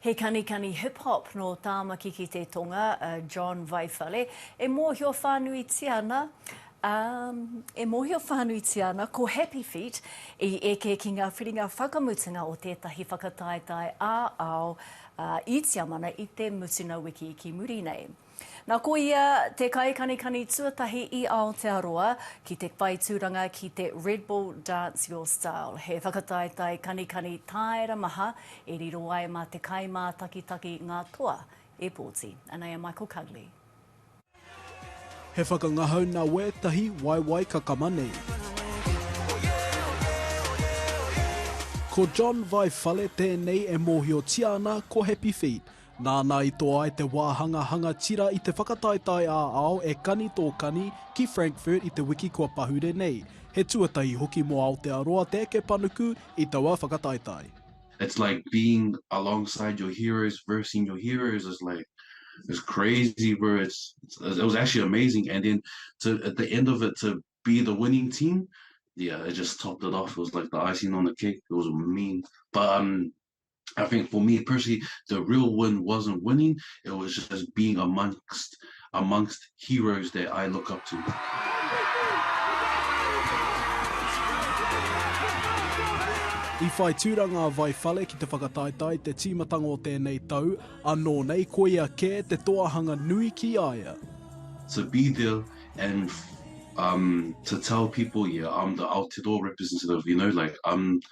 He kanikani hip hop nō Tāmaki ki te Tonga a John Vaiwhare, e mōhio whānuitia ana, um, e mōhio whānuitia ana ko Happy Feet i eke ki ngā whiringa whakamutunga o tētahi whakataetae ā-ao, uh, i Tiamana i te mutunga wiki ki muri nei. Na ko ia te kaikanikani tuatahi i Aotearoa ki te whai tūranga ki te Red Bull Dance Your Style, he whakataetae kanikani tāera maha e riro ai mā te kaimātakitaki ngā toa e pōti. Anei a Michael Cugley. He whakangahau na wetahi waewae kakama nei. Ko John Vai Whale tēnei e mōhiotia ana ko Happy Feet, Nāna i toa ai te wāhanga hanga tira i te whakataetae ā-ao E Kani Tō Kani ki Frankfurt i te wiki kua pahure nei. He tuatahi hoki mō Aotearoa te eke panuku i taua whakataetae. It's like being alongside your heroes versing your heroes is like it's crazy bro it's it was actually amazing and then to at the end of it to be the winning team yeah it just topped it off it was like the icing on the cake it was mean but um I think for me personally, the real win wasn't winning, it was just being amongst amongst heroes that I look up to. I whai tūranga a Vai Whale ki te whakataetae te tīmatanga o tēnei tau, anō nei koia kē te toahanga nui ki a ia. To be there and um, to tell people, yeah, I'm the Aotearoa representative, you know, like, I'm,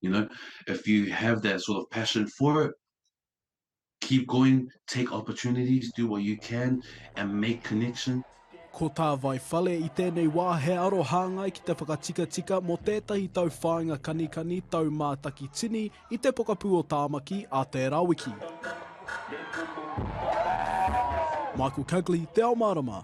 you know, if you have that sort of passion for it, keep going, take opportunities, do what you can, and make connections. Ko tā Vai Whale i tēnei wā he aro hāngai ki te whakatikatika mō tētahi tau whāinga kanikani tau mātaki tini i te pokapū o Tāmaki a tērā wiki. Michael Cugley, Te Ao Mārama.